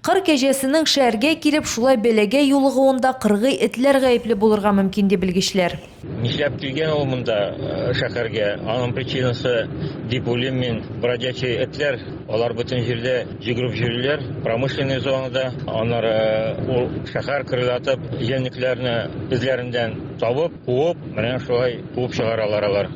Кыр кәҗәсенең шәһәргә килеп шулай бәлагә юлыгуында кыргый этләр гаепле булырга мөмкин, ди белгечләр. Нишләп килгән ул монда, шәһәргә? Аның причинасы, дип уйлыйм мин, бродячий этләр. Алар бөтен җирдә йөгереп йөриләр, промышленный зонада. Аннары ул шәһәр кырлатып, җәнлекләрне эзләреннән табып, куып, менә шулай куып чыгаралар алар.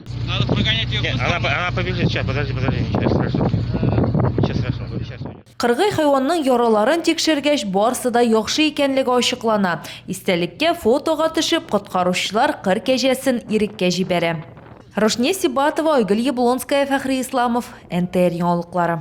Кыргый хайванның яраларын тикшергәч, барсы да яхшы икәнлеге ачыклана. Истәлеккә фотога төшеп, коткаручылар кыр кәҗәсен иреккә җибәрә. Рушния Сибатова, Айгөл Яблонская, Фәхри Исламов, НТР яңалыклары.